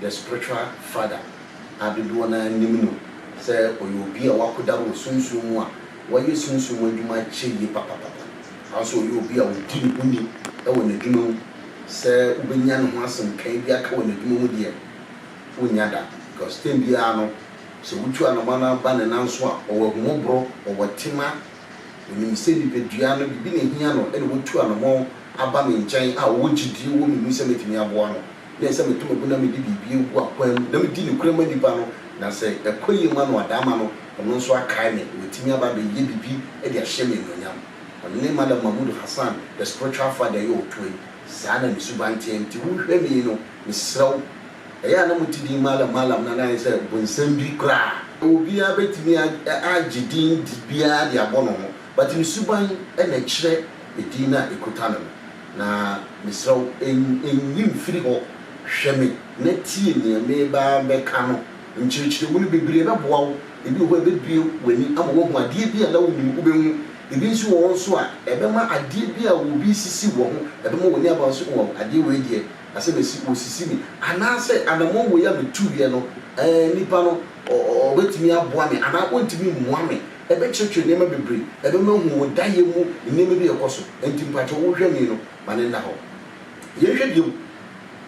The Spiritual Father a dodoɔ no ara nim no sɛ ɔyɛ obi a wakoda wɔ sunsum mu a wayɛ sunsum mu adwuma akyɛ yie papapapa. Saa ara nso ɔyɛ obi a ɔdi ne ho ni wɔ n'adwuma mu. Sɛ wobɛnya ne ho asɛm kann bi aka wɔ n'adwuma mu deɛ, wonnya da because time biara no sɛ wotu anamɔ no ba ne nan so a, ɔwɔ ahummɔborɔ, ɔwɔ tema, ɔnim sɛ nipadua no biribi na ɛhia no ɛna watu anamɔ aba me nkyɛn a ɔwɔ gyedie wɔ me mu sɛ mɛtumi aboa no. Yɛ sɛ meto mabo na mede biribi agu akwan mu na medi nokorɛ ma nipa no, na sɛ ɛkɔ yie ma no a, dama no, ɔno nso akae me, na watumi aba abɛyɛ biribi de ahyɛ me anuonyam. Ɔne Malam Mahmood Hassan, The Spiritual Father yɛ ɔtoa yi. Saa na ne suban teɛ. Nti wohwɛ me yi no, mesrɛ wo, ɛyɛ a na mote din Malam Malam no anaa ayɛ sɛ bonsam bi koraa? Obiara bɛtumi agye din biara de abɔ ne ho, But ne suban na ɛkyerɛ edin no a ekuta no no, na mesrɛ wo nyi mfiri hɔ, hwɛ me na tie nea merebɛka no, nkyerɛkyerɛmu no bebree bɛboa wo, ebi wɔ hɔ a ɛbɛbue w'ani ama woahu adeɛ bi a na wonnim, wobɛhu, ebi nso wɔ hɔ nso a ɛbɛma adeɛ bi a obi resisi wɔ ho, ɛbɛma w'ani aba nso oh adeɛ wei deɛ asɛm asi, wɔresisi me, anaasɛ anamɔn wei a metuiɛ no eh nipa no ɔbɛtumi aboa me anaa ɔntumi mmoa me, Ɛbɛkyerɛkyerɛ nneɛma bebree. Ɛbɛma ahu wo dayɛ mu nneɛma bi a ɛkɔ so. Ɛnti mpakyɛw wo hwɛni no ma no nna hɔ. Yɛn hwɛ bio.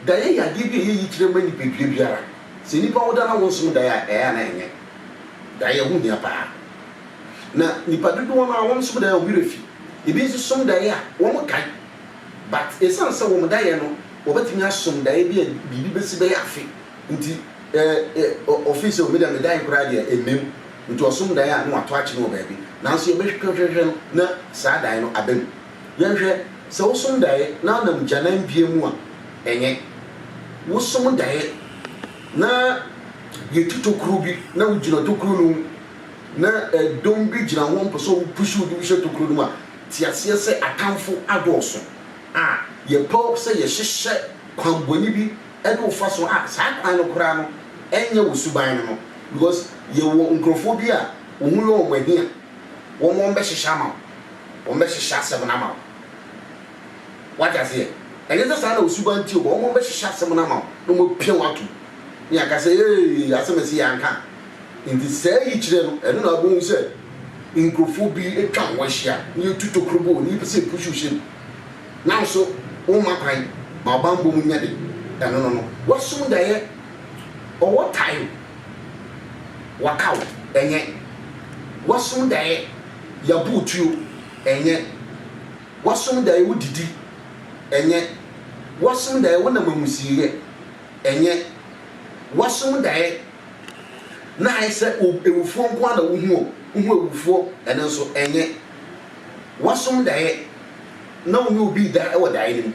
Dayɛ yɛ adeɛ bi a ɛyɛ yikyerɛ ma nipadua biara. Sɛ nipa wo da na wo nsom dayɛ a ɛyɛ a na ɛnyɛ. Dayɛ ho hia paa. Na nipa dodoɔ no a wɔn som dayɛ wɔn werɛ fi. Ebi nso som dayɛ a wɔn kae. But ɛsiane sɛ wɔn dayɛ no wɔbɛtumi asom dayɛ bi a biribi bɛsi bɛyɛ afe nti ɛ ɛ ɔfii sɛ o me deɛ me dayɛ koraa deɛ ɛmmem. Nti ɔsom dae a na wɔato akyene wɔ baabi, nanso yɛbɛhwehwɛhwehwɛ no na saa dae no aba mu. Yɛnhwɛ, sɛ wosom dae na wonam gyanan bia mu a, ɛnyɛ. Wosom dae na yɛtu tokuro bi na wogyina tokuro no mu na dɔm bi gyina hɔ mpɛ sɛ ɔmo push wo de wo hyɛ tokuro no mu a, te aseɛ sɛ atamfo adɔɔso a yɛpɛ sɛ yɛhyehyɛ kwanbɔne bi ne wo fa so a saa kwan no koraa no ɛnyɛ wo suban no no because yɛwɔ nkurɔfoɔ bi a wo ho yɛ wɔn ahi a wɔn wɔn bɛhyehyɛ ama wo wɔn bɛhyehyɛ asɛm no ama wo wate aseɛ ɛnyɛ sɛ saa na wo suban nti o wɔn wɔn bɛhyehyɛ asɛm no ama wo na wɔn apia wo atom ne yɛaka sɛ ee asɛm ɛsi yɛ anka nti saa yi kyerɛ no ɛno na abɔhu sɛ nkurɔfoɔ bi atwa wɔn ahyia ne yɛtu tokuro bɔ wɔn ne yɛpɛ sɛ yɛpusu hyɛ bi Nanso womma kwan ma ɔbammɔ mu nya de ɛno no no. Wasum daeɛ, ɔwɔ tae o, wakaw, ɛnyɛ. Wasum daeɛ, yabu wo tuo, ɛnyɛ. Wasum daeɛ, wodidi, ɛnyɛ. Wasum daeɛ, wonam amusieyɛ, ɛnyɛ. Wasum daeɛ, na ayɛ sɛ awufoɔ nko ara na wohu o, wohu awufoɔ, ɛno nso, ɛnyɛ. Woasom daeɛ na wo ne obi reda wɔ daeɛ no mu.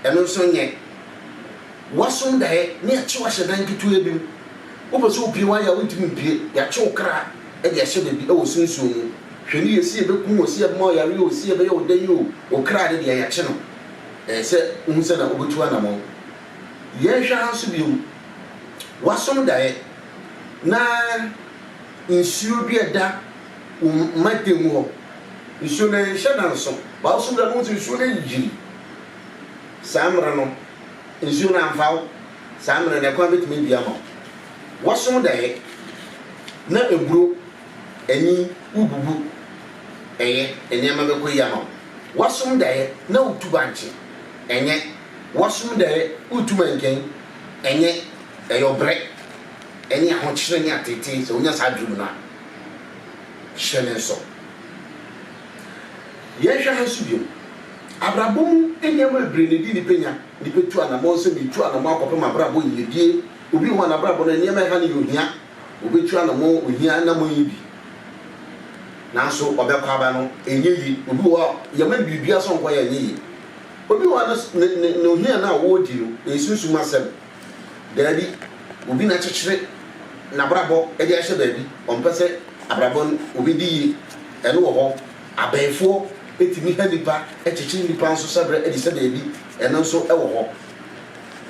Ɛno nso nyɛ. Woasom daeɛ na yɛakye wo ahyɛ dan ketewaa bi mu. Wopɛ sɛ wopue woayɛ a wontumi mpue. Yɛakye wo kra de ahyɛ baabi wɔ sunsum mu. Hwɛ ne yɛ, se yɛbɛku wo, se yɛbɛma wo yareɛ o, se yɛbɛyɛ wo dɛn o, wo kra no deɛ yɛakye no. Ɛyɛ sɛ wohu sɛnea wobɛtu anamɔn. Yɛnhwɛ ha nso bio. Woasom daeɛ na nsuo dua da. wo mma dan mu hɔ. Nsuo no nhyɛ nanso w'awosom da no wohu sɛ nsuo no ayiri. Saa mmerɛ no nsuo no amfa wo, saa mmerɛ no ɛkwan bɛtumi abue ama wo. Wosom daeɛ na aburo, anyin, wobubu, ɛyɛ, nneɛma bɛkɔ yie ama wo. Wosom daeɛ na wotu bankye, ɛnyɛ. Wosom daeɛ wotu mankani, ɛnyɛ. Ɛyɛ ɔbrɛ ne ahokyerɛ ne ateetee sɛ wonya saa adwene mu no a. hyɛ ne nso. Yɛnhwɛ ha nso bio. Abrabɔ mu nneɛma bebree na edi nnipa nya. Nnipa tu anammɔn sɛ meretu anammɔn akɔpem abrabɔ yiyedie. Obi wɔ hɔ a n'abrabɔ no nneɛma a ɛha no yɛ ohia. Ɔbɛtu anammɔn ohia anammɔn yi bi. Nanso ɔbɛkɔ aba no ɛnyɛ yie. Obi wɔ hɔ a yɛma no biribiara sɛ ɔnkɔyɛ ɛnyɛ yie. Obi wɔ hɔ a ne ne ne ohia no a ɔredi no ɛyɛ sunsum asɛm. Daabi, obi na akyekyere n'abrabɔ de ahyɛ baabi, ɔmpɛ sɛ abrabɔ no obedi yie, ɛno wɔ hɔ. Abɛɛfoɔ tumi ha nnipa, kyekyere nnipa nso hyɛbrɛ de hyɛ baabi, ɛno nso wɔ hɔ.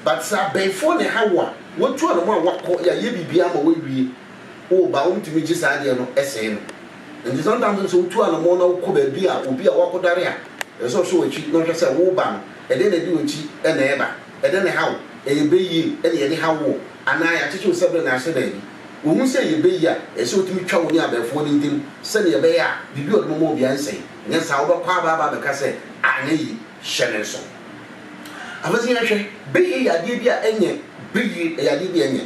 But sɛ abɛɛfoɔ na ɛha wo a, watu anamɔ a wakɔ, yɛayɛ biribiara ama wawie, woba a wɔntumi gye saa adeɛ no sɛe no. Nti sometimes nso sɛ wotu anamɔ na wokɔ baabi a obi a wakɔdare a, ɛsɛ sɛ ɔhwɛ w'akyi na ɔhwɛ sɛ woba no, ɛdeɛn na ɛde w'akyi na ɛreba. Ɛdɛn na ɛha wo? Ɛyɛ bɛ yie na yɛde ha woɔ? Anaa yɛakyekye wo sɛberɛ na ahyɛ baabi? Wohu sɛ ɛyɛ bɛ yie a, ɛsɛ sɛ wotumi twa wo ne abɛɛfoɔ no ntam sɛdeɛ ɛbɛyɛ a biribi a wɔde bɛma obiara rensɛe. Anyɛ saa a, wobɛkɔ aba aba abɛka sɛ, anyɛ yie, hyɛ me nso. Afei nso yɛnhwɛ, bɛ yie yɛ adeɛ bi a ɛnyɛ bɛ yie. Ɛyɛ adeɛ bi a ɛnyɛ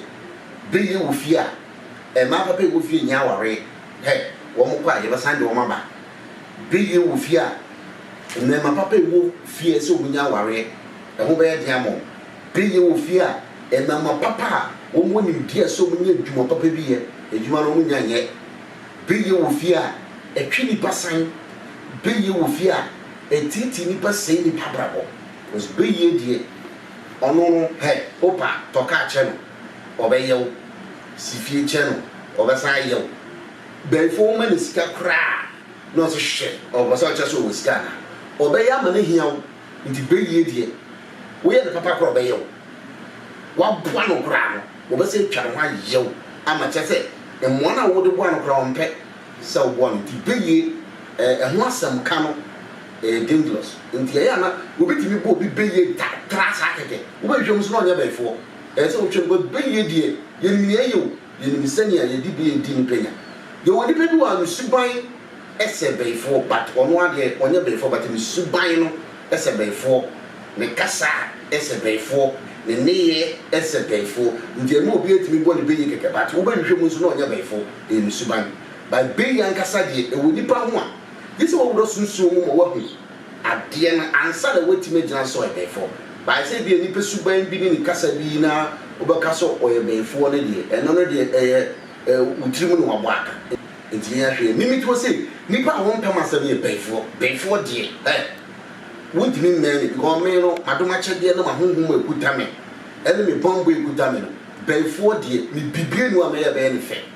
bɛ yie wɔ fie a mmaa papa a ɛwɔ fie nyɛ awareɛ. Hɛ, wɔkɔ a, yɛbɛsan de wɔn aba. Bere yie wɔ fie a mmarima papa a ɛwɔ fie sɛ wɔnya awareɛ, ɛho bɛyɛ den ama wɔn. Bere yie wɔ fie a mmarima papa a wɔwɔ nimdeɛ sɛ wɔnya adwuma papa bi yɛ, adwuma no wɔnnya nyɛ. Bere yie wɔ fie a ɛtwe nnipa san. Bere yie wɔ fie a ɛtiatia nnipa sɛe nnipa abrabɔ. Because bere yie deɛ, ɔno no hɛ, wopa a, tɔ kaa kyerɛ no, ɔbɛyɛ wo. Si fie kyerɛ no, ɔbɛsan ayɛ wo. Bɛnfo wo ma no sika koraa na ɔse hwɛ ɔpɛ sɛ ɔkyerɛ sɛ ɔwɔ sika anaa? Ɔbɛyɛ ama no ahia wo nti bɛwie deɛ woyɛ no papa koraa ɔbɛyɛ wo. Waboa no koraa no ɔbɛsan atwa ne ho ayɛ wo ama kyerɛ sɛ mmoa no a wode boa no koraa ɔmpɛ sɛ woboa no nti bɛwie ɛho asɛm ka no ɛyɛ dangerous nti ɛyɛ a na wɔbɛtumi bɔ obi bɛwie da tra saa kɛkɛ wobɛhwehwɛ mu nso na ɔnyɛ bɛnfoɔ ɛyɛ sɛ wotwa no but bɛwie deɛ yɛnim nea ɛyɛ o. Yɛnim sɛnea yɛde bi redi nnipa nya. Yɛwɔ nnipa bi wɔ ha no suban sɛ bɛyifoɔ but ɔno ara deɛ ɔnyɛ bɛyifoɔ but ne suban no sɛ bɛyifoɔ, ne kasa sɛ bɛyifoɔ, ne nneyɛɛ sɛ bɛyifoɔ nti ɛma obi atumi bɔ ne bɛyi kɛkɛ but wobɛhwehwɛ mu nso na ɔnyɛ bɛyifoɔ, ɛyɛ ne suban. But bɛyi ankasa deɛ ɛwɔ nnipa ho a gyesɛ wawura sunsum mu ma wahu. adeɛ no ansa na watumi agyina sɛ ɔyɛbɛyifoɔ but ayɛ sɛ ebia nnipa suban bi ne ne kasa bi na wobɛka sɛ ɔyɛbɛyifoɔ no deɛ ɛno no deɛ ɛyɛ wo tiri mu na wabɔ aka nti yɛn ahwɛ yɛ mimi toɔ sɛ nnipa a wɔmpɛ m'asɛm yɛ bɛyifoɔ bɛyifoɔ deɛ eh wontumi mmɛn me because me no m'adomakyɛdeɛ ne m'ahonhom a ɛkuta me ɛne me bammɔ a ɛkuta me no bɛyifoɔ deɛ mebibire no a mɛyɛ bɛyɛ ne fɛ.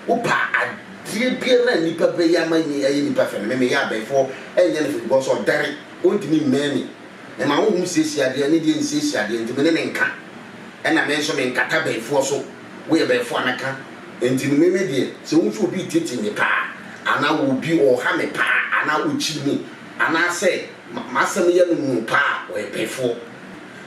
Wopa adeɛ biara a nnipa bɛyɛ ama nyi ɛyɛ nnipa fɛ no me meyɛ abɛɛfoɔ ɛnyɛ no fɛ because ɔdɛre ɔntumi mmɛn me mema honhom siesie adeɛ ne deɛ nsiesie adeɛ nti me ne no nka ɛna me nso menkata bɛɛfoɔ so woyɛ bɛɛfoɔ a mɛka nti no me me deɛ sɛ wohu sɛ obi reteetee me paa anaa obi ɔreha me paa anaa ɔkyiri me anaa sɛ m'asɛm yɛ no noo paa a ɔyɛ bɛɛfoɔ.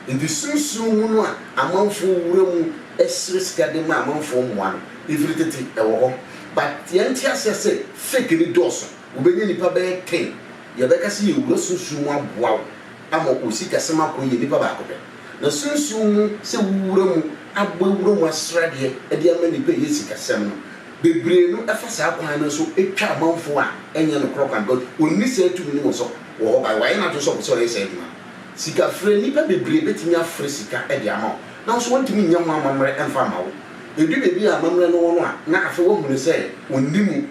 Ntsi sunsum hu no a amamfo wura mu srɛ sika dze ma amamfo mboa no, ifir tsetse wɔ hɔ but hɛn ntseasea sɛ fake no dɔɔ so, wobenya nyimpa bɛyɛ ten yɛbɛka sɛ yewura sunsum mu aboa wo ama wo sikasɛm akɔ yie nyimpa baako pɛ. Na sunsum mu sɛ wo wura mu abɔ ewura mu asrɛ adeɛ dze ama nyimpa eyɛ sikasɛm no bebree no fa saa kwan no so twa amamfo a nnyɛ nokorɛ kwan because onni saa tumi no wɔ sɔ wɔ hɔ by wɔayɛ n'adwen sɛ ɔpɛ sɛ ɔyɛ saa edwuma no. Sikafrɛ, Nnipa bebree betumi afrɛ sika de ama wo, nanso wɔrentumi nyɛ ho amammerɛ mfa mma wo. Edu baabi a amammerɛ no wɔ no a, na afei wɔahu no sɛ onni mu.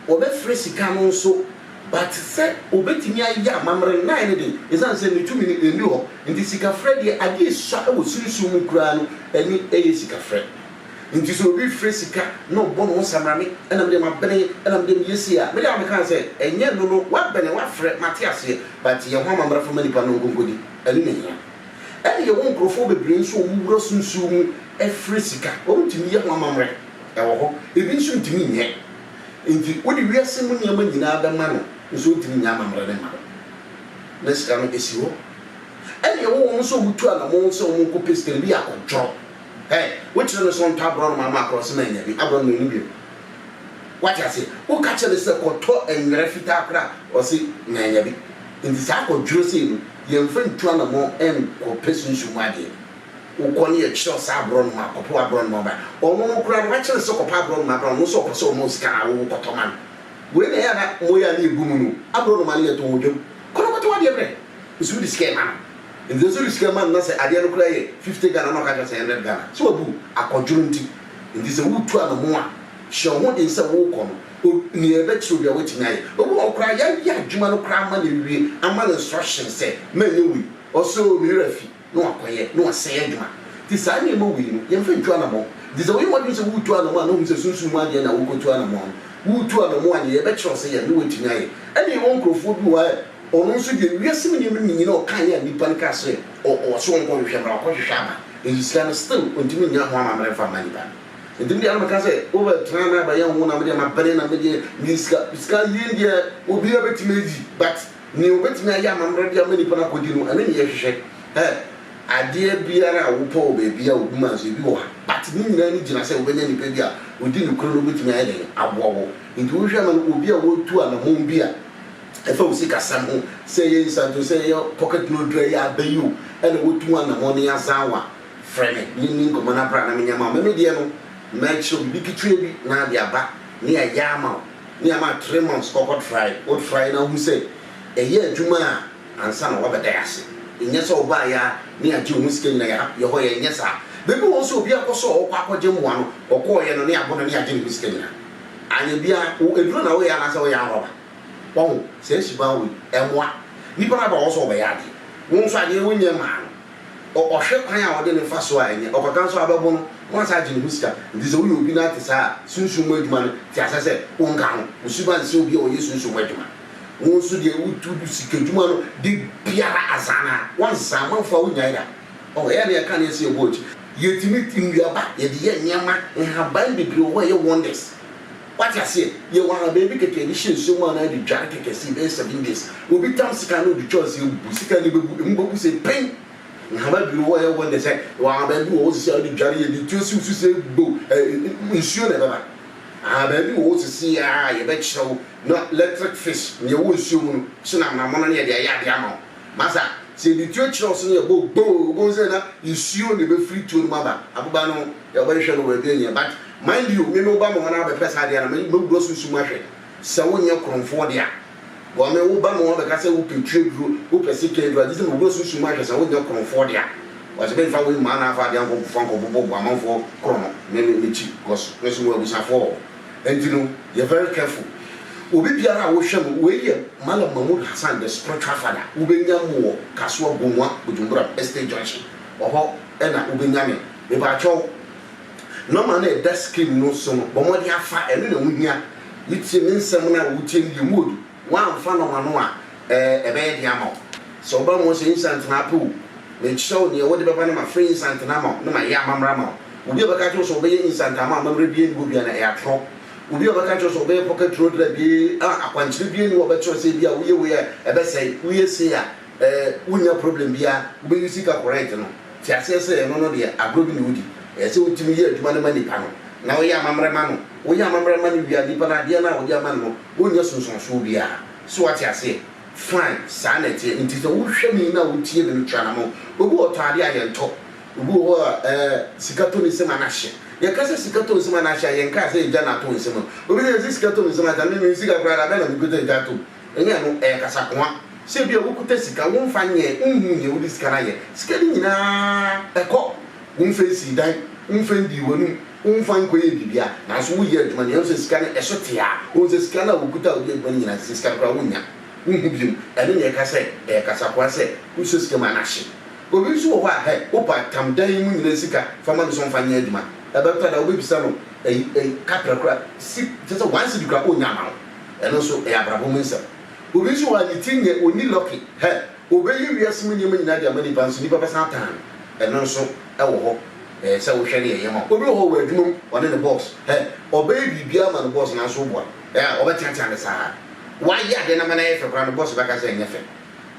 Wɔbɛfrɛ sika no nso, but sɛ obetumi ayɛ amammerɛ no, na ayɛ no den. Esiane sɛ ne tumi no nni hɔ nti, sikafrɛ deɛ, ade a esua wɔ sunsum mu koraa no, ɛne ɛyɛ sikafrɛ. Enti sɛ obi frɛ sika na ɔbɔ ne ho samrane, ɛna me deɛ mabene, ɛna me deɛ meyɛ sei a, me deɛ a meka no sɛ, ɛnyɛ ɛno no, woabene, woafrɛ, mate aseɛ. But yɛn ho amammerɛfo ma nnipa no nkonkoni, ɛno na ehia. Ɛna yɛwɔ nkurɔfoɔ bebree nso a wɔwura so nsuo mu frɛ sika, wɔntumi yɛ ho amammerɛ, ɛwɔ hɔ, ebi nso ntumi nyɛ. Enti wode wiase mu nneɛma nyinaa bɛma no nso ɔntumi nyɛ amammerɛ no mma wo. Na sika no esi hɔ. Ɛna yɛwɔ wɔn nso a wɔtu anamɔn sɛ wɔnkɔpɛ sika, ebi yɛ akɔdworɔ, hey, wokyerɛ no sɛ ɔntɔ aborɔnoma ama akorɔse na anya bi, aborɔnoma nni bio. Wate aseɛ? Woka kyerɛ no sɛ kɔtɔ nwera fitaa koraa a, ɔse manya bi. Nti saa kwadworɔ sei no, yɛmfa ntu anammɔn nkɔpɛ sunsum mu adeɛ. Wokɔ no yɛtwerɛ wo saa aborɔnoma a, kɔpɛ w'aborɔnoma bra. Ɔno no koraa no, wakyerɛ no sɛ kɔpɛ aborɔnoma bra, ɔno nso ɔpɛ sɛ ɔma wo sika no, awowo kɔtɔ ma no. Wei na ɛyɛ a na moyɛ a na yɛbu mu no. Aborɔnoma no yɛtɔn wɔ dwam. Kɔ na kɔtɔ w'adeɛ brɛ. Nso wode sika rema no. Nti nso wode sika rema no na sɛ adeɛ no koraa yɛ fifty Ghana na ɔka kyerɛ wo sɛ hundred Ghana. Sɛ wabu wo, akwadworɔ nti. Enti sɛ woretu anamɔn a, hyɛ wo ho den sɛ worekɔ no, nea ɛbɛkyerɛ wo biara woatumi ayɛ. Ebi wɔ hɔ koraa a, yɛayɛ adwuma no koraa ama no awie, ama no instructions sɛ, manyɛ wei, ɔse oo, me werɛ afi, na wakɔyɛ, na wasɛe adwuma. Enti saa nneɛma wei no, yɛmfa ntu anamɔn. Enti sɛ woyɛ w'adwene sɛ woretu anamɔn a na hu sɛ sunsum mu adeɛ na worekɔtu anamɔn no. Woretu anamɔn a, nea ɛbɛkyerɛ wo sɛ yɛ no na woatumi ayɛ. Ɛnna yɛwɔ nkurɔfoɔ bi wɔ hɔ a, Ɔno nso deɛ wiase mu nneɛma no mu nyina ɔkaeɛ a nnipa no kaa sɛ ɔso ɔnkɔ nhwehwɛ mmra ɔkɔ hwehwɛ aba eyi sika no still ɔntumi nnya ho amammerɛ mfa mma nnipa no nti medeɛ na meka sɛ wobɛ tena na bɛyɛ ho na medeɛ mabene na medeɛ meyɛ sika sika yie deɛ obiara bɛtumi ayi but nea ɔbɛtumi ayɛ amammerɛ de ama nnipa no akɔdi no ɛno ne yɛhwehwɛ ɛ adeɛ biara a wopɛ wɔ baabi a obi ma nso ebi wɔ ha but ne nyinaa no gyina sɛ wobɛnya nnipa bi a ɔdi nokorɛ no ɔbɛtumi ayɛ dɛn aboa wɔ nti wohwɛ ma no obi a wɔtu anamɔn bi a Ɛfa wo sikasɛm ho, sɛ ɛyɛ nsanti o, sɛ ɛyɛ pocket note o, ɛyɛ aba yi o, ɛna wotu anamɔn ne azanwa, frɛ me ne nni nkɔmmɔ na bra na menyɛ ma wo. Me me deɛ no, mɛkyerɛ wo biribi ketewa bi na ade aba ne ayɛ ama wo, ne ama wo three months kɔkɔ trae, wo trae na wohu sɛ ɛyɛ adwuma a ansa na woabɛda yɛ ase. Nyɛ sɛ wobaeɛ ara ne agye wo ho sika nyina yɛha, yɛhɔ yɛ nyɛ saa. Baabi wɔ hɔ sɛ obi akɔ sɛ ɔɔkɔ akɔgye mmoa no, ɔkɔɔeɛ no ne abo no ne agye ne ho sika nyina. Anyɛ biara, wo aduro na woyɛ anaasɛ woyɛ anrɔba? Wahu? Saa suban wei, ɛmmoa. Nnipa no aba hɔ sɛ wɔbɛyɛ ade. Wo nso adeɛ wonyɛ mmaa no. Ɔ, ɔhwɛ kwan a ɔde no fa so a, ɛnyɛ. Ɔkɔka nso a, wobɛbo no, na woasan agye ne ho sika. Enti sɛ woyɛ obi na ate saa a, sunsum mu adwuma no, te aseɛ sɛ wonka ho. Wo suban nsɛ obi a ɔyɛ sunsum mu adwuma. Wo nso deɛ, wo, wo sikadwuma no, da biara azan ara. Woansa amanfoɔ a, wonnyae da. Ɔ, ɛyɛ a na yɛka adeɛ sɛ yɛbɔ akyi. Yɛtumi, nnuaba, yɛde yɛ nneɛma, nhaban bebree wɔ hɔ a ɛyɛ wonders. Wate aseɛ? Yɛwɔ ha baabi kɛkɛ yɛde hyɛ nsuo mu anaa yɛde dware kɛkɛ sei bɛyɛ seven days. Obi tam sika na ɔde twa nsuo abubu, sika no bɛbu, ɛmu bɛbu sei pen. Nhama bi wɔ hɔ a ɛyɛ wonders ɛ, yɛwɔ ha baabi wɔ hɔ seesei a wode dware yɛde tuo siw so sei bow ɛ, nsuo na ɛbɛba. Aha baabi wɔ hɔ seesei a yɛbɛkyerɛ wo na electric fish nea ɛwɔ nsuo mu no hyɛ no amonamono na yɛde ayɛ adeɛ ama wo. Masa, sɛ yɛde tuo kyerɛ wo so na yɛbɔ boo, wobɛhu sɛ na nsuo na ɛbɛfiri tuo no mu aba, aboba no ho. Yɛbɛhwehwɛ no wɔ baabi nyɛ but mind you me me wo ba me hɔ na bɛpɛ saa adeɛ na me me brɔ sunsum ahwɛ sɛ wo nyɛ koromfoɔ dea bɔ me wo ba me hɔ bɛka sɛ wo pɛ twi aduro wo pɛ se kɛ aduro agye sɛ me brɔ sunsum ahwɛ sɛ wo nyɛ koromfoɔ dea wɔse me nfa wei mmaa na afa adeɛ ankɔ fa nkɔ bobɔ bo amanfoɔ korɔ no me me me kyi cos me so wɔ abusafoɔ wɔ ɛnti no yɛ very careful obi biara a wo hwɛ no wei yɛ Malam Mahmood Hassan the spiritual father wo bɛ nya mo wɔ Kasoa Bumua Bujumburam estate junction ɔhɔ ɛna wo bɛ nya me. Mepakyɛw, nɔma no a ɛda screen no so no, bɔ mmɔden afa, ɛno na ɛho hia. Wutie me nsɛm no a, wutie no deɛ mu odu. Woamfa nɔma no a, ɛɛ, ɛbɛyɛ den ama wo. Sɛ woba mmom sɛ instant na apɛ o, mekyerɛ wo nea wode bɛba na mafrɛ instant no ama wo na mayɛ amammerɛ ama wo. Obi a ɔbɛka akyerɛ wo sɛ ɔbɛyɛ instant ama wo amammerɛ biara nni hɔ biara, na ɛyɛ atorɔ. Obi a ɔbɛka akyerɛ wo sɛ ɔbɛyɛ pocket road na bi a akwankyerɛ biara nni hɔ a ɔbɛkyerɛ wo sɛ ebia woyɛ wei a ɛbɛsɛe, woyɛ sei a, ɛɛ, wunnya problem biara, wobɛuse ka correct no. Te aseɛ sɛ ɛno no deɛ agorɔ bi na wodi. Ɛyɛ sɛ wotumi yɛ adwuma no ma nipa no, na woyɛ amammerɛ ma no. Woyɛ amammerɛ ma no wie a, nipa no adeɛ no a wode ama no no, wonnya sunsuansoɔ biara. So woate aseɛ? Fine, saa na ɛteɛ. Enti sɛ wohwɛ me yi na wotie me no, twa anamɔn. Obi wɔ hɔ ɔtɔn adeɛ a, yɛntɔ. Obi wɔ hɔ a, ɛɛ, sika tɔ ne nsam a na ahye. Yɛka sɛ sika tɔ nsam a na ahye a, yɛnkaa sɛ egya na atɔ nsam. Obi ka sɛ sika tɔ me nsam a, agya me, menni sika koraa, da bɛn na mekuta egya atom? Ɛnyɛ ɛno, ɛyɛ kasakoa. Sɛ ebia wokita sika, womfa nyɛ, wonhu nea wode sika no ayɛ. Sika no nyinaa kɔ. Womfa nsii dan, womfa ndii w'anom, womfa nkɔyɛɛ biribiara. Nanso woyɛ adwuma no, yɛahu sɛ sika no ɛso te ara. Wohu sɛ sika no a wokuta a wode yɛ adwuma no nyinaa, sɛ sika no koraa wonnya, wonhu bio. Ɛno na yɛka sɛ ɛyɛ kasakoa sɛ wosɔ sika mu anahye. Obi nso wɔ hɔ a, hɛ, wopɛ atam, dan yi mu nyinaa sika, fa ma me so mfa nyɛ adwuma. Ɛbɛtɔ da a wobɛbisa no, ɛyi, ɛyi, kaprɛ koraa, si, kyerɛ sɛ one cedi koraa, onnya mma wo. Ɛno nso ɛyɛ abrabɔ mu nsɛm. Obi nso wɔ ha ne tiri nyɛ, ɔnni lucky. Hɛ! Ɔbɛyi wiase mu nneɛma nyinaa de ama nnipa nso nnipa bɛsan atan no. Ɛno nso ɛwɔ hɔ. Ɛyɛ sɛ wohwɛ ne yɛyɛ ma wo. Obi wɔ hɔ ɔwɔ adwuma mu, ɔne ne boss. Hɛ! Ɔbɛyɛ biribiara ama ne boss nanso woboa. Ɛyɛ a ɔbɛteatea no saa ara. Woayɛ adeɛ no ama no ayɛ fɛ koraa no, boss bɛka sɛ ɛnyɛ fɛ.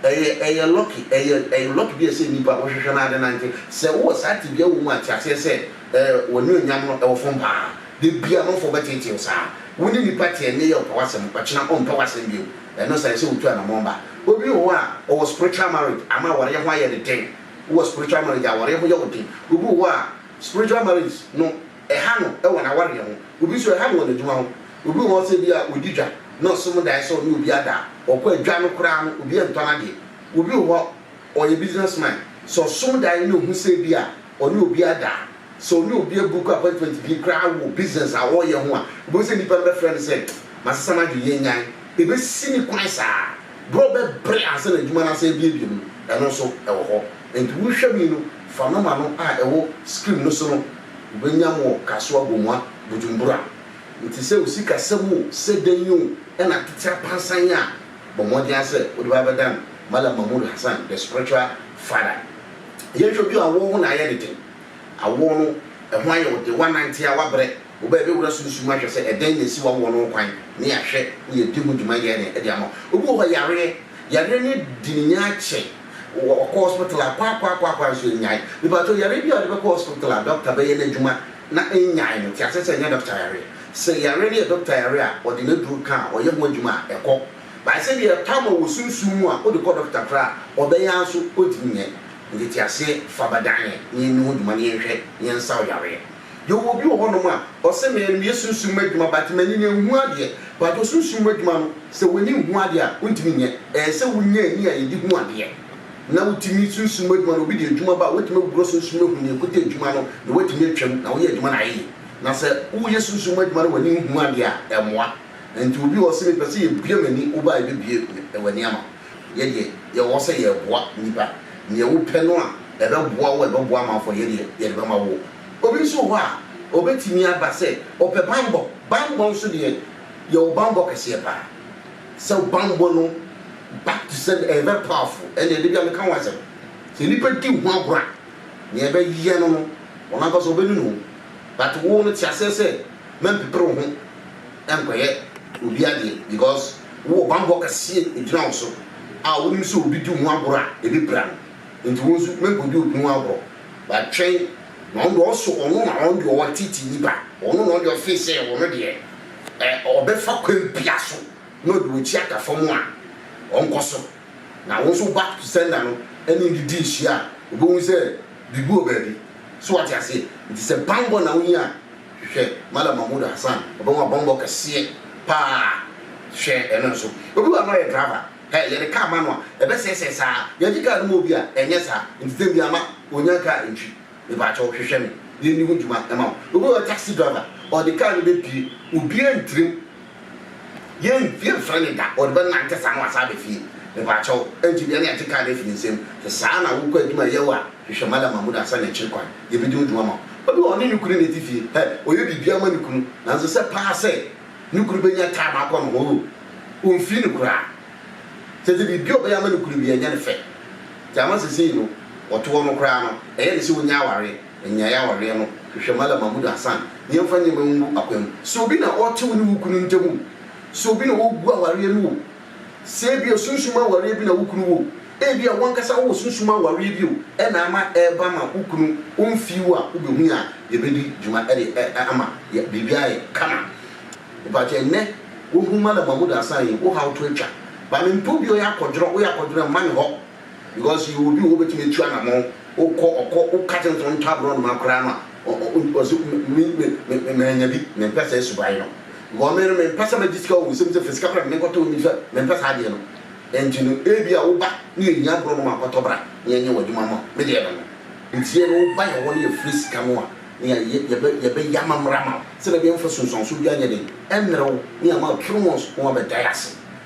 Ɛyɛ ɛyɛ lɔki ɛyɛ ɛyɛ lɔki bi a ɛsɛ nnipa a wɔhwehwɛ no ara de nante. Sɛ wowɔ saa tebea wɔ mu a, te aseɛ sɛ ɛɛ w'anuonyam no ɛwɔ fam pa ara. Da biara amanfoɔ bɛteetee wo saa. Wo ne nnipa te ɛnnɛ yi a ɔpɛ w'asɛm, ɔkyena ɔmpɛ w'asɛm bio. Ɛno saa ɛsɛ wotu anamɔn ba. Obi wɔ hɔ a ɔwɔ spiritual marriage ama awareɛ ho ayɛ no den. Wowɔ spiritual marriage a awareɛ ho yɛ wo den. Obi wɔ hɔ a spiritual marriage no. Ɛha no wɔ n'awareɛ ho. Obi nso ɛha no wɔ n'adwuma ho. Obi wɔ hɔ sɛ bi a ɔdi dwa na ɔsom daeɛ sɛ ɔne obi ada a, ɔkɔ a dwa no koraa no obi ntɔ n'adeɛ. Obi wɔ hɔ ɔyɛ business man, sɛ ɔsom daeɛ na ɔhu sɛ bi a ɔne obi ada a, sɛ ɔne obi abuku appointment bi koraa wɔ business a ɔreyɛ ho a, wobɛhu sɛ nnipa no bɛfrɛ no sɛ masesa m'adwene yɛnnyae. Ɛbɛsi ne kwan saa berɛ a ɔbɛbrɛ ansa na adwuma no asan abuebue no, ɛno nso wɔ hɔ. Enti wo nhwɛmu yi no, Fa no ma no a ɛwɔ scrim no so no wobɛnya mo kasoa gomua bujumbura nti sɛ wo sika sɛm oo sɛ dɛn oo ɛna tete apansan a bɔ mmɔden ara sɛ wode bɛba bɛdan malam mahmood hassan the spiritual father yɛnhwɛ bi awɔɔ ho na ayɛ ne den awɔɔ no ɛho ayɛ wo den woanante a woabrɛ wo bɛɛ bɛwura sunsum ahwɛ sɛ ɛdɛn na ɛsi wawɔɔ no ho kwan ne ahwɛ woyɛ di ho dwuma yɛɛ dɛn de ama wo obi wɔ hɔ yareɛ yareɛ no adi ne nya akyɛ Wɔ ɔkɔ hospital a kwaakwaakwaakwa nso nnyae. Mepakyɛw, yare bi a ɔde bɛkɔ hospital a dɔkta bɛyɛ n'adwuma na ennyae no, te ase sɛ ɛnyɛ dɔkta yare. Sɛ yare no yɛ dɔkta yare a, ɔde n'aduru ka a, ɔyɛ ho adwuma a, ɛkɔ. Bae sɛ deɛ ɛtɔ ama wɔ sunsum mu a wode kɔ dɔkta koraa a, ɔbɛyɛ ara nso ɔntumi nyɛ. Nteteaseɛ, fa ba dan yɛn na yɛnni ho dwuma na yɛnhwɛ na yɛnsaw yareɛ. Yɛwɔ obi wɔ hɔnom a ɔse me no meyɛ sunsum mu adwuma but m'ani no ɛnhu adeɛ but osunsum mu adwuma no sɛ w'ani nhu adeɛ a wontumi nyɛ ɛɛsɛ wonya ani a yɛde hu adeɛ na wotumi sunsum mu adwuma no obi de adwuma ba a wobɛtumi awura sunsum mu ahu nea ɛkuta adwuma no na woatumi atwam na woyɛ adwuma no ayɛ yie na sɛ woyɛ sunsum mu adwuma na w'ani nhu adeɛ a ɛmmoa nti obi wɔ hɔ ɔse mepɛ sɛ yɛbue m'ani wobaa yɛbɛbue w'ani ama wo. Yɛ deɛ yɛwɔ sɛ yɛreboa nnipa, nea wopɛ no a ɛbɛboa wo a ɛbɛboa amanfoɔ a, yɛ deɛ yɛde bɛma wo. Obi nso wɔ hɔ a, ɔbɛtumi aba sɛ ɔpɛ banbɔ. Banbɔ nso deɛ, yɛwɔ banbɔ kɛseɛ pa ara. Sɛ wo banbɔ no back to sender, ɛyɛ very powerful. Ɛnneɛ da bi ara meka ho asɛm. Sɛ nnipa di wo ho agorɔ a, nea ɛbɛyɛ no no, wɔn ankasa wɔbɛnunu wo. But wo no, te aseɛ sɛ, mɛmpepere wo ho. nkɔyɛ obi adeɛ because wowɔ banbɔ kɛseɛ ɛgyina wo so a wonim sɛ obi di wo ho agorɔ a ɛbɛpira no nti wo nso mɛnkɔdi obi ho agorɔ but twɛn na ɔno deɛ ɔso ɔno na ɔno deɛ ɔwɔ titi nipa ɔno na ɔdeɛ ɔfee sɛ ɔno deɛ ɛ ɔbɛfa kwan bia so na ɔde wɔkyi aka fam a ɔnkɔ so na wo nso back to sender no ɛne ne di nhyia a wobɛhu sɛ biribi wɔ baabi so wate aseɛ nti sɛ banbɔ na wonya a Hwehwɛ Malam Mahmood Hassan, ɔbɛn wo abɔmbɔ kɛseɛ paa hwɛ ɛno nso. Obi wɔ ha na ɔyɛ driver, hɛ yɛde car ma no a ɛbɛsɛɛsɛɛ saa, yɛgye car no ma obi a ɛnyɛ saa, nti dɛn biara ma ɔnya car ntwi, mepakyɛw hwehwɛ me yɛnni ho dwuma ma wo. Obi wɔ hɔ taxi driver, ɔde car no bɛpie, obiara ntirim Yɛn fie mfrɛ ne da, ɔde bɛ nante saa na wasan aba fie. Mepakyɛw, ɛnte biara na yɛgye car no afi ne nsam. Sɛ saa na wokɔ adwuma yɛ wo a, hwehwɛ Mallam Mahmood ansa na akyiri kwan, yɛbedi wo dwuma ma wo. Obi wɔ hɔ, ɔne ne kunu na ɛte fie. Hɛ, ɔyɛ biribiara ma ne kunu, nanso sɛ paa sɛ ne kunu bɛnya time akɔ ne ho, oh, ɔmfii no koraa. Kyerɛ sɛ biribiara a ɔbɛyɛ ama ne kunu biara, ɛnyɛ no fɛ. Nti ama seesei no, ɔtoɔ no koraa no, ɛyɛ no sɛ ɔnnya awareɛ. Nnyae awareɛ no, hwehwɛ Malam Mahmood Hassan na yɛmfa nneɛma ngu akwan mu. Sɛ obi na ɔte wo ne wo kunu ntam o, sɛ obi na ɔgu awareɛ no o, sɛ ebia sunsum awareɛ bi na wo kunu wɔ o, ebia w'ankasa wowɔ sunsum awareɛ bi o, ɛna ama ɛreba ma wo kunu ɔmfii wo a, wobɛhu yɛn a yɛbɛdi dwuma de ama biribi ayɛ kama. Mepakyɛ ɛnnɛ wohu Malam Mahmood Hassan yi, wo haw to atwa. Ba mempɛ obi a ɔyɛ akɔdworɔ, woyɛ akɔdworɔ a mma me hɔ. Because yɛwɔ obi wɔ hɔ obetumi atu anamɔn, wokɔ ɔkɔ woka kyerɛ no sɛ ɔntɔ aborɔnoma koraa no a ɔse me me me mannya bi, mempɛ saa suban no. Because me no mempɛ sɛ mɛgye sika wɔ wo nsam sɛ fa sika bra na menkɔtɔ wo nnifa, mempɛ saa adeɛ no. Ɛnti no ebia wo ba ne yɛhia aborɔnoma a kɔtɔ bra na yɛnyɛ wo adwuma ma wo. Me deɛ no no. Nti yɛ ne wo ba yɛ hɔ na yɛfrɛ sika no a na yɛayɛ yɛbɛ yɛbɛyɛ amammerɛ ama wo sɛdeɛ ɛbɛyɛ wo mfa sunsuansoɔ biara nyɛ den ɛmmerɛ wo na yɛama wo twere wɔn so na wɔabɛdae ase.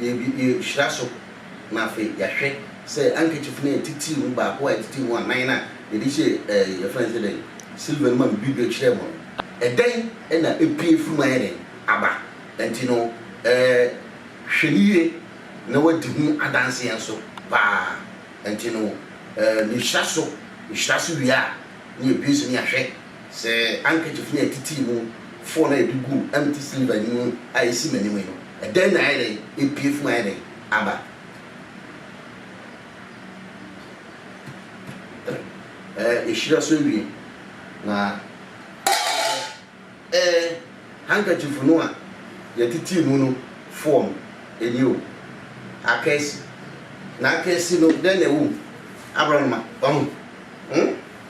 Yɛbi yɛhyira so na afei yɛahwɛ sɛ handkerchief no a ɛtitiriw mu baako a ɛtitiriw mu anan no a yɛde hyɛɛ ɛɛ yɛfrɛ no sɛ dɛn silver no mu a mebue bio kyerɛɛ mo no, ɛdɛn na epue firi mu ayɛ dɛn aba. Ɛnti no ɛɛ hwɛ no yie na woadi ho adanseɛ nso paa. Ɛnti no ɛɛ mehyira so, mehyira so wie a na yɛbue so na yɛahwɛ. Sɛ ankekyif no a ɛtittii mu fɔɔ no a ɛde guu empty sliver no mu a ɛsi m'anim yi no, ɛdɛn na ayɛ dɛn apue funu ayɛ dɛn aba? Ɛ, ɛhyira so awie. Na ɛ, handkerchief no a yɛtittii mu no fɔɔ no, ɛni o, akaasi. Na akaasi no, dɛn na ɛwɔ mu? Aborɔnoma. Wahu? Hmm?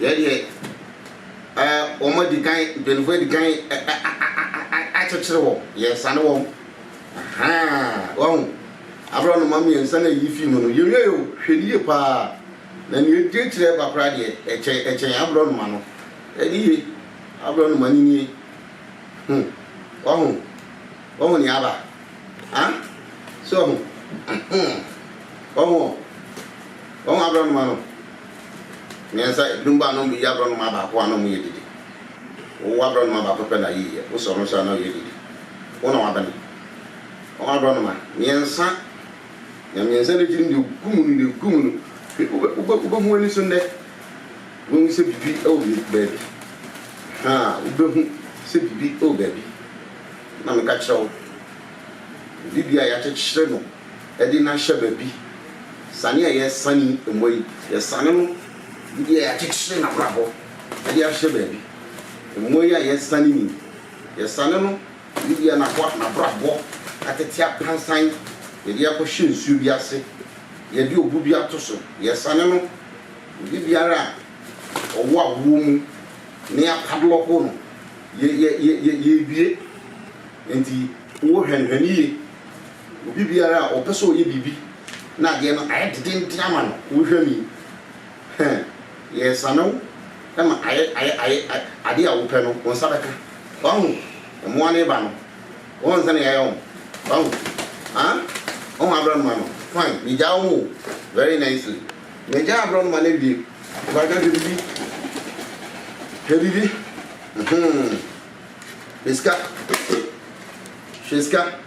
Yɛyɛ ɛ wɔn adi kan mpanyinfoɔ adi kan ɛ ɛ akyekyere wɔn yɛresane wɔn ahaa wɔn abira wɔn ma mmiɛnsa na eyi fi mu no yɛwie yɛ o hwɛ ni yie paa na nea edi akyire ɛba koraa deɛ ɛkyɛn ɛkyɛn abira wɔn ma no ɛni yie abira wɔn ma no nie ho wɔn ho wɔn ho nea aba ah so wɔn ho wɔn ho wɔn abira wɔn ma no. Mmiɛnsa, ebinom ba a na wɔyi aborɔnoma baako a na wɔyɛ dede. Wo aborɔnoma baako pɛ na ayiiɛ. Wo sɛ ɔno nso a na ɔyɛ dede. Wo na wabene. Wɔn aborɔnoma mmiɛnsa na mmiɛnsa no akyi no deɛ ɔgu mu no, deɛ ɔgu mu no, wobɛhu w'ani so nnɛ. Wobɛhu sɛ biribi wɔ baabi. Ha, wobɛhu sɛ biribi wɔ baabi. Na meka kyerɛ wo, biribi a yɛakyekyere no. de no ahyɛ baabi. Sane a yɛresane mmoa yi, yɛsane no biribi a yɛakyekyere no abrabɔ de ahyɛ baabi. Mmoa yi a yɛresane no yi, yɛsane no biribi a n'aboa n'abrabɔ atete apansan, yɛde akɔhyɛ nsuo bi ase, yɛde obu bi ato so, yɛsane no biribiara a ɔwɔ awoɔ mu na yɛapadlɔko no, yɛ, yɛ, yɛ, yɛ, yɛrebue. Enti wohwɛ no, hwɛ no yie. Obi biara a ɔpɛ sɛ ɔyɛ biribi na adeɛ no ayɛ dedenden ama no, wohwɛ me yi, huh, yɛsane wo ma ayɛ, ayɛ, ayɛ, adeɛ a wopɛ no, wo nsa bɛka. Wahu? Mmoa no reba no, wohu sɛdeɛ yɛayɛ wɔn? Wahu? Huh? Wohu aborɔnoma no? Fine, megyaa wɔn o, very nicely. Megyaa aborɔnoma no awie. Mpakyɛw, hwɛ biribi. Hwɛ biribi. Mhmm. Hwɛ sika. Hwɛ sika.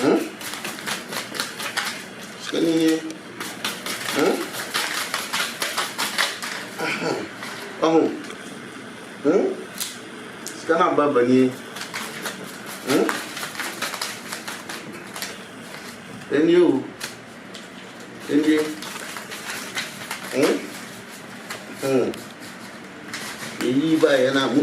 Hmm? Sika ni nie. Hmm? Aha. Aho. Hmm? Sika na aba aba nie. Hmm? Ɛni o. Ɛni. Hmm? Hmm. Eyi ba yɛ na mu.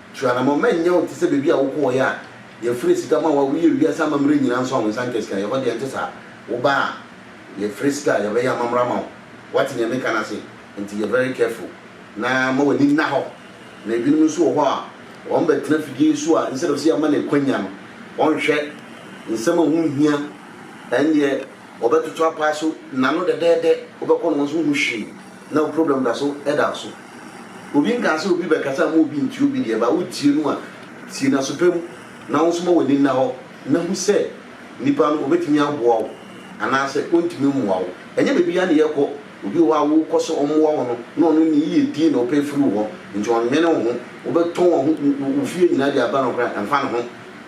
Tu anammɔn ma ɛnyɛ wo te sɛ baabi a wokɔeɛ a yɛfrɛ sika ma wo a woyɛɛ wiase amammerɛ nyinaa nso a wo nsa nka sika. Ɛhɔ deɛ, ɛnte saa. Wobaa a, yɛfrɛ sika a yɛbɛyɛ amammerɛ ama wo. Woate deɛ mereka no ase? Enti yɛ very careful na ma w'ani nna hɔ. Na ebinom nso wɔ hɔ a, wɔbɛtena afidie yi so a, instead of sɛ yɛma no akwanya no, wɔnhwɛ nsɛm a ɛho nhia. Ɛndeɛ wɔbɛtoto apaa so nnanu dɛdɛɛdɛ. Wobɛkɔ na wɔn nso nhu hwee. Na wo problem da so da wo so. Obi nkaa sɛ obi bɛkasa mma obi ntie obi deɛ ba wotie no a tie no aso pa mu na wo nso ma w'ani nna hɔ na hu sɛ nipa no obetumi aboa wo anaasɛ ontumi mmoa wo. Ɛnyɛ baabiara na yɛkɔ, obi wɔ hɔ a wokɔ sɛ ɔmmoa wo no na ɔno ne yiyedie na ɔpɛ firi wo hɔ nti ɔnnwene wo ho. Wobɛtɔn waho wo fie nyinaa de aba no koraa ɛmfa ne ho.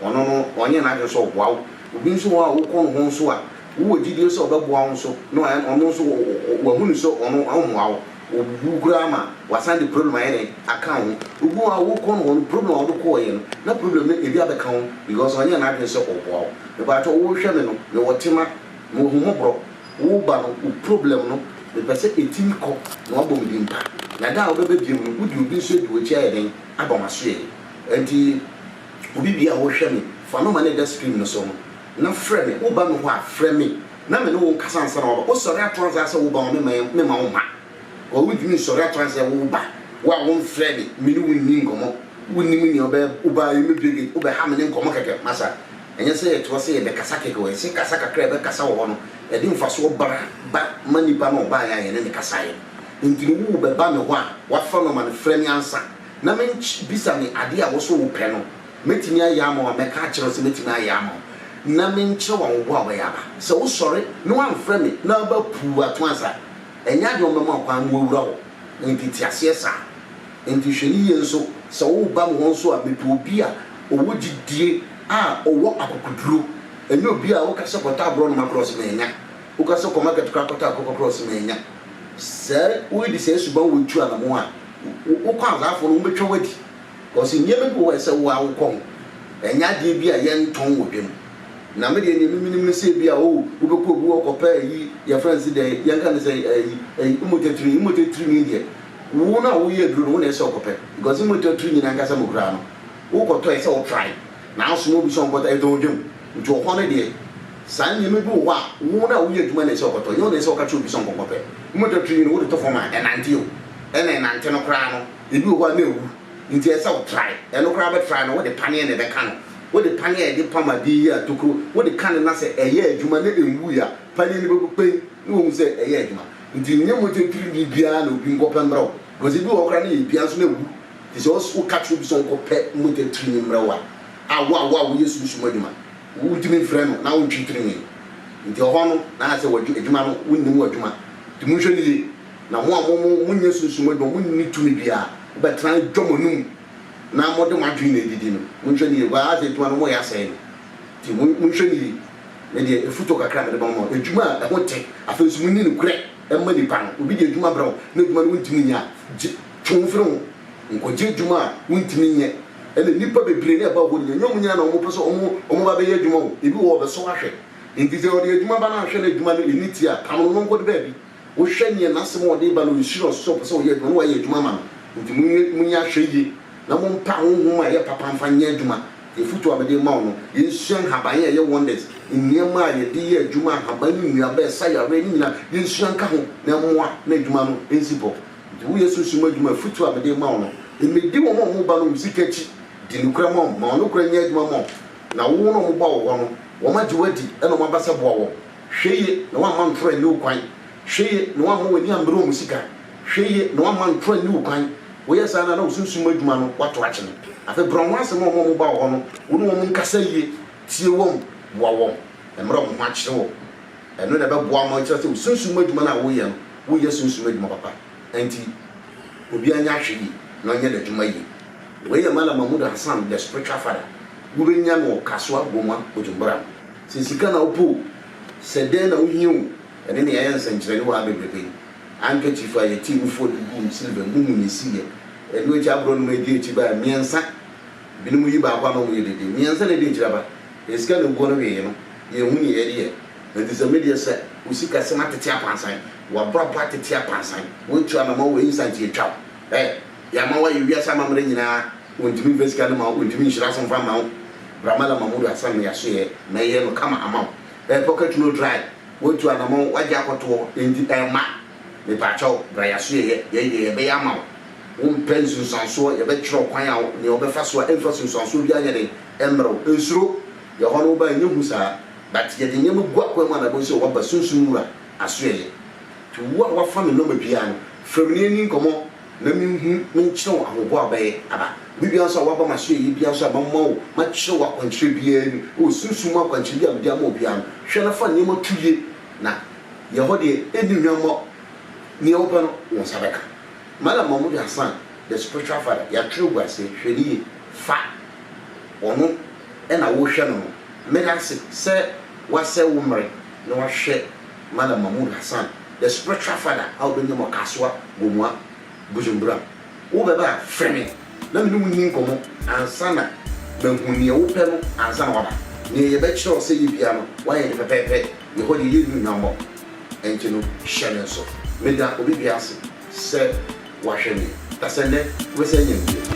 Ɔno no ɔnyɛ n'adwene sɛ ɔboa wo. Obi nso wɔ hɔ a wokɔ ne hɔ nso a Wowɔ gyidie sɛ ɔbɛboa wo nso na ɔno nso wahunu sɛ ɔno ɔmmoa wo. Ɔbubu koraa ma wasan de problem ayɛ dɛn? Aka wo ho. Obi wɔ hɔ a wokɔ no hɔ no problem a wode kɔɔeɛ no na problem no ebi abɛka wo because ɔnyɛɛ n'adwene sɛ ɔboa wo. Mepaatwɔ wohwɛ me no mewɔ tema, mewɔ ahummɔborɔ, woba no wo problem no mepɛ sɛ ɛtumi kɔ na wabɔ me din mpa na da a wobɛba biom no wode obi nso adi w'akyi ayɛ dɛn? Aba m'asoɛeɛ. Ɛnti obi biara a wohwɛ me fa no ma no ɛda screen no so no na frɛ me, wo ba no hɔ a, frɛ me na me ne wo nkasa ansa na waba. Wo sɔre ato ansa ara sɛ wo ba hɔ, me mma yɛn, me mma wo mma hɔ. Wo ntumi nsɔre ato ansa sɛ wo ba, wo a wo mfrɛ me, me ne wo nni nkɔmmɔ. Wo nnim nea ɔbɛyɛ wo ba yi, me bɛgye, wo bɛha me ne nkɔmmɔ kɛkɛ. Masa, ɛnyɛ sɛ yɛ toa sɛ yɛ bɛ kasa kɛkɛ o, ɛsɛ kasa kakra a yɛ bɛ kasa wɔ hɔ no, ɛde mfasoɔ bra ba ma nipa no a ɔbaeɛ a yɛ ne no kasaeɛ no. Nti no wo wo bɛ ba me hɔ a, wa fa no ma no frɛ me ansa na me nkye bisa me adeɛ a wo so wo pɛ no, Mɛtumi ayɛ ama wɔn, mɛka akyerɛ wo sɛ mɛtumi ayɛ ama wo, na menkyerɛ wo awoboɔ a wobɛyɛ aba. Sɛ wosɔre na woamfrɛ me na woba puu ato ansa a, ɛnyɛ adeɛ a wɔbɛma wo kwan ma woawura hɔ. Enti te aseɛ saa. Enti hwɛ no yie nso, sɛ woreba me hɔ nso a, mepɛ obi a ɔwɔ gyidie a ɔwɔ akokoduro, ɛnyɛ obi a woka sɛ kɔtɔ aborɔnoma koraa ɔse mannya, woka sɛ kɔ market koraa kɔtɔ akokɔ koraa ɔse mannya. Sɛ woredi saa suban wei tu anammɔn a, wo kwanzaafoɔ no wɔbɛtwa wo adi. Ɔse nneɛma bi wɔ hɔ a ɛsɛ wo ara wokɔ ho, ɛnyɛ adeɛ bi a yɛntɔn wɔ dwam. Na me deɛ nea me menim ne sɛ ebi a oh wobɛkɔ obi hɔ kɔpɛ ayi yɛfrɛ no se dɛn yɛnka no sɛ ayi ayi mmogya tirinwi mmogya tirinwi deɛ wo no a woyɛ aduro no wo na ɛsɛ sɛ wokɔpɛ because mmogya tirinwi no ankasa mu koraa no wokɔtɔ ɛsɛ wo try na asoma obi sɛ ɔnkɔtɔ ɛtɔn wɔ dwam nti wɔ hɔ no deɛ saa nneɛma bi wɔ hɔ a wo no a woyɛ adwuma na ɛsɛ ɔkɔtɔ ɛnyɛ wo na ɛsɛ ɔka kyerɛ obi sɛ ɔnkɔnkɔpɛ mmogya tirinwi no wode to fam a ɛnante o ɛna ɛnante no koraa no Ebi wɔ hɔ a na ewu, enti ɛsɛ sɛ wotrae. Ɛno koraa bɛtrae no, wode paneɛ na ɛbɛka no. Wode paneɛ a yɛde pam adeɛ yi a tokuro wode ka no na sɛ ɛyɛ adwuma na enwui a, paneɛ no bɛbu pɛn na woahu sɛ ɛyɛ adwuma. Enti nyɛ mogya pirimii biara na obi nkɔpɛ mmrɛ wo, because ebi wɔ hɔ koraa na yɛdua nso na ewu. Enti sɛ woka kyerɛ obi sɛ ɔnkɔpɛ mogya pirimii mmrɛ wo a, a wo a wo a woyɛ sunsum adwuma, wontumi mfrɛ no na wontwe pirimii no. Enti ɛhɔ no na ayɛ sɛ w'adwuma no, wonnim w'adwuma. Enti monhwɛ no yie. Na mo a mo mo mo nyɛ sunsum adwuma, mo nni tumi biara, wobɛtra adwa mo anum, na mode mo adwene na ɛdidi no, monhwɛ no yie, baa ase adwuma no moyɛ asɛe no, nti monhwɛ no yie, me deɛ afutuo kakra a mede bɛma mo, adwuma a ɛho te, afei nso monni nokorɛ mma nnipa no, obi de adwuma brɛ wo, na adwuma no wontumi nyɛ a, gye, twe wo firi ho, nkɔgye adwuma a wontumi nyɛ, ɛna nnipa bebree na ɛba hɔ no, ɛnyɛ wɔn nyinaa na wɔpɛ sɛ wɔn wɔn ba bɛyɛ adwuma o, ebi wɔ hɔ wɔbɛsɔ ahwɛ, nti sɛ ɔde adwuma ba no ahwɛ na adwuma no ɛnni teɛ a, pam no na ɔnkɔde baabi. Wohwɛ nea n'asɛm a ɔde reba no, ɔresuro ɔsoro sɛ ɔpɛ sɛ ɔyɛ adwuma, na wayɛ adwuma ama no. Enti monyɛ monyɛ ahwɛyie na mompa honhom a ɛyɛ papa mfa nyɛ adwuma. Deɛ afotuo a mede rema wo no, yɛnsua nhaban a ɛyɛ wonders, nneɛma a yɛde yɛ adwuma, ahaban ne nnuaba a ɛsa yareɛ no nyinaa, yɛnsua nka ho na ɛmmoa na adwuma no nsi bɔ. Enti woyɛ sunsum adwuma a, afotuo a mede rema wo no, mmɛdi wɔn a wɔba no wɔn sika akyi. Di nokorɛ ma wɔn, ma wɔn nokorɛ nyɛ adwuma ma wo, na wo na wɔba wɔ hɔ no, wɔagye wo adi na wɔaba sɛ boa wɔn. Hwɛ yiye na woamma ntoro anni wo kwan. Hwɛ yiye na woamma w'ani ammere wɔn sika. Hwɛ yiye na woamma ntoro anni wo kwan. Woyɛ saa no a, na wo sunsum mu adwuma no, woato akyene. Afei brɛ wɔn ho ase ma wɔn a wɔba wo hɔ no. Wo ne wɔn nkasa yiye, tie wɔn, boa wɔn, na mmerɛ wɔn ho akyere wɔn. Ɛno na ɛbɛboa ma woakyerɛ sɛ wo sunsum mu adwuma no a woreyɛ no, woreyɛ sunsum adwuma papa. Enti, obiara nyɛ ahwɛyiye na ɔnyɛ n'adwuma yiye. Wei yɛ Malam Mahmoud Hassan, The Spiritual Father. Wobɛnya no wɔ Kasuwa, Gomua, Bujumbura no. Sɛ sika na wopɛ o, sɛ dɛn na wohia o, ɛno na yɛayɛ nsɛnkyerɛnne wɔ ha bebrebe. Handkerchief a yɛtee mu fua de guu silver mu mu na esiiɛ. Ɛno akyi aborɔnom a edi akyi bae mmiɛnsa. Binom yi baako a na wɔyɛ dede. Mmiɛnsa na edi akyiri aba. Yɛn sika na eguɔ no wee no. Yɛanhu nea yɛde yɛ. Enti sɛ me deɛ sɛ wo sikasɛm atete akwansan, w'abrabɔ atete akwansan, woatu anamɔn wɔ instant yɛatwa wo. Ɛ! Yɛama woayɛ wiase amammerɛ nyinaa wɔntumi mfa sika no mma wo, wɔntumi nhyira so mfa mma wo, Bramala Mahmoud Hassan no yɛasoɛ na yɛyɛ no kama ama wo, ɛyɛ pocket note dry, woatu anamɔn, woagye akɔtoɔ, enti ɛmma, mepaakyɛ wo bra yɛasoɛ yɛ, yɛyi deɛ yɛbɛyɛ ama wo, wompɛ nsunsuansoɔ, yɛbɛkyerɛ wo kwan a wo, nea wobɛfa so a ɛmfa sunsuansoɔ biara nyɛ den mmrɛ wo, nsuro, yɛ hɔ no woba a ɛnyɛ hu saa, but yɛde nneɛma gu akwan mu a na ɛbɛhu sɛ woaba Sunsum Wura asoɛ yɛ, nti wo a woafa me nɔma biara no frɛ me na yɛnni nkɔmmɔ. na menhu menkyerɛ wo ahoboa a wobɛyɛ aba. Bere biara nso a woaba m'asoɛyie biara nso a mɛma wo, mɛkyerɛ wo akwankyerɛ biara mu, wɔ sunsum mu akwankyerɛ bi a mede ama wo biara no, hwɛ na fa nneɛma to yie, na yɛ hɔ deɛ ɛnni hwammɔ, deɛ wopɛ no wo nsa bɛka. Mallam Mahmoud Hassan, the spiritual father, yɛatwerɛ agu aseɛ, hwɛ no yie, fa ɔno na worehwɛ no no. Meda ase sɛ woasɛe wo mmere na woahwɛ. Malam Mahmood Hassan, the spiritual father a wobenya mu akasoa wɔ mua, Bujumbura. Wobɛba a, frɛ me na me ne wo nni nkɔmmɔ ansa na mahu nea wopɛ no ansa na woaba. Nea yɛbɛkyerɛ wo sɛ yɛ biara no, woayɛ no pɛpɛɛpɛ. Yɛn hɔ deɛ, yɛnni hwammɔ, enti no hyɛ no nso. Meda obi biara ase sɛ wahwɛ me, na sɛ nnɛ wobɛsan anya me bio.